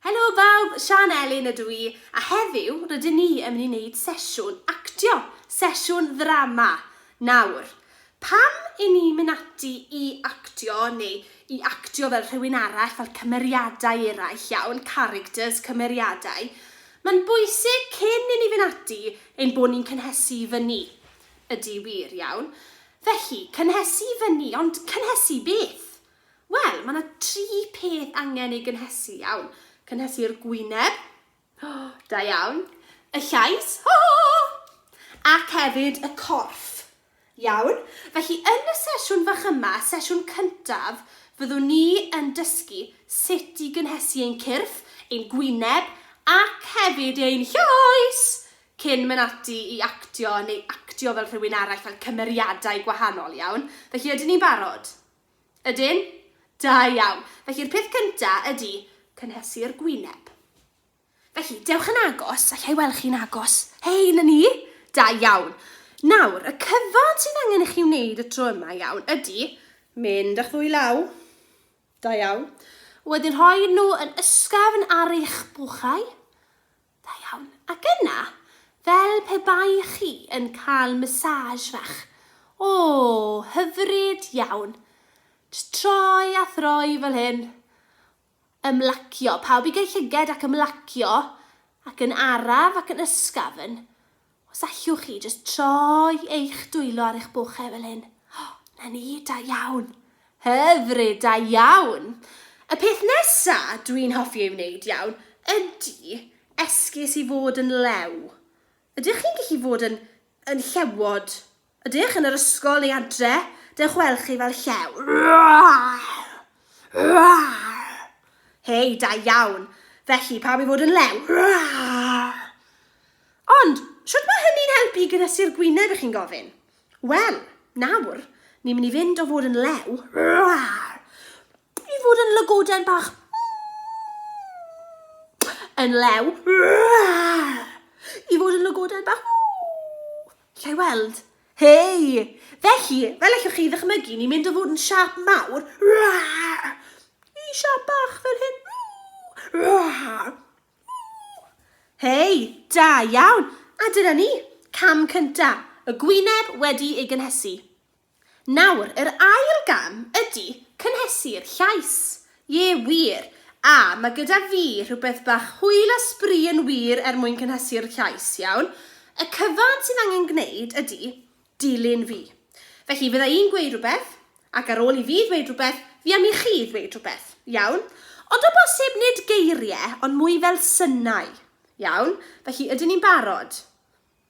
Helo bawb, Sian Elin ydw i, a heddiw rydyn ni yn mynd i wneud sesiwn actio, sesiwn ddrama. Nawr, pam i ni mynd ati i actio neu i actio fel rhywun arall, fel cymeriadau eraill iawn, characters, cymeriadau? Mae'n bwysig cyn i ni fynd ati Ein bod ni'n cynhesu i fyny. Ydy, wir, iawn. Felly, cynhesu i fyny, ond cynhesu i beth? Wel, mae 'na dri peth angen eu gynhesu, iawn. Cynhesu'r gwyneb, ho, da iawn, y llais, ho, ho, ho, ho, ac hefyd y corff, Iawn, felly yn y sesiwn fach yma, sesiwn cyntaf, fyddwn ni yn dysgu sut i gynhesu ein cyrff, ein gwyneb ac hefyd ein llais cyn mynd ati i actio neu actio fel rhywun arall, fel cymeriadau gwahanol, iawn? Felly ydyn ni'n barod? Ydyn? Da iawn. Felly'r peth cyntaf ydy cynhesu'r gwyneb. Felly, dewch yn agos, alla i weld chi'n agos. Hei, na ni! Da iawn. Nawr, y cyfan sydd angen i chi wneud y tro yma iawn ydy mynd â'ch ddwy law. Da iawn. Wedyn rhoi nhw yn ysgafn ar eich bwchau. Da iawn. Ac yna, fel pe bai chi yn cael massage fach. O, hyfryd iawn. Just troi a throi fel hyn. Ymlacio. Pawb i gau llyged ac ymlacio, ac yn araf ac yn ysgafn. Os allwch chi jyst troi eich dwylo ar eich bochau fel hyn. O, 'na ni, da iawn. Hyfryd, da iawn. Y peth nesa dwi'n hoffi ei wneud iawn ydy esgus i fod yn lew. Ydych chi'n gallu fod yn yn llewod Ydych yn yr ysgol neu adre? Dewch weld chi fel llew. Hei, da iawn. Felly, pam i fod yn lew? Ond, shwt mae hynny'n helpu i gynhesu'r gwyneb, ych chi'n gofyn? Wel, nawr, ni'n mynd i fynd o fod yn lew I fod yn lygoden bach yn lew. I fod yn lygoden bach Lle i weld? Hei! Felly, fel allwch chi ddychmygu, ni'n mynd o fod yn siap mawr i siap bach fel hyn. Hei, da iawn! A dyna ni, cam cyntaf, y gwyneb wedi ei gynhesu. Nawr, yr ail gam ydi cynhesu'r llais. Ie, wir. A, mae gyda fi rhywbeth bach hwyl a sbri yn wir er mwyn cynhesu'r llais, iawn? Y cyfan sydd angen gwneud ydi dilyn fi. Felly, fydda i'n gweud rhywbeth, ac ar ôl i fi ddweud rhywbeth, fi am i chi ddweud rhywbeth, iawn? Ond o bosib nid geiriau, ond mwy fel synau. Iawn? Felly, ydyn ni'n barod?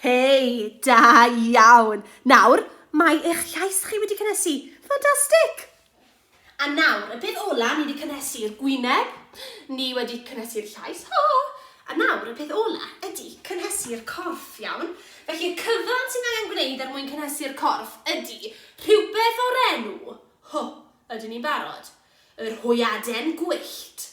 Hei! Da iawn! Nawr, mae eich llais chi wedi cynhesu. Ffantastig! A nawr, y peth ola, ni wedi cynhesu'r gwyneb, ni wedi cynhesu'r llais, ho! A nawr, y peth ola ydy cynhesu'r corff, iawn? Felly, y cyfan sy'n angen gwneud er mwyn cynhesu'r corff ydy rhywbeth o'r enw, ho, ydyn ni'n barod? Yr hwyaden gwyllt.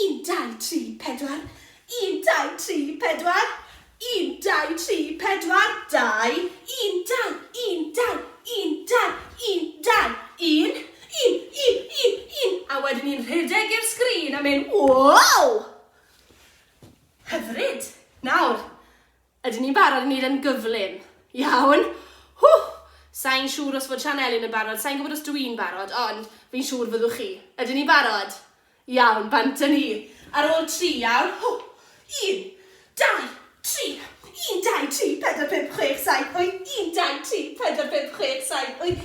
Un, dau, tri, pedwar. Un, dau, tri, pedwar. Un, dau, tri, pedwar. Dau. Un, dau, un, dau, un, dau, un, dau, un. Un, un, un, un. A wedyn ni'n rhedeg i'r sgrin a mynd, wow! Hyfryd. Nawr, Ydyn ni'n barod i wneud e'n gyflym? Iawn. Whoo! Sa i'n siŵr os fod Sian Elin yn barod, sa i'n gwybod os dw i'n barod, ond fi'n siŵr fyddwch chi. Ydyn ni'n barod? Iawn, bant â ni. Ar ôl tri, iawn. Whoo! Un, dau, tri. Un, dau, tri, pedwar, pump, chwech, saith, wyth. Un, dau, tri, pedwar, pump, chwech, saith, wyth.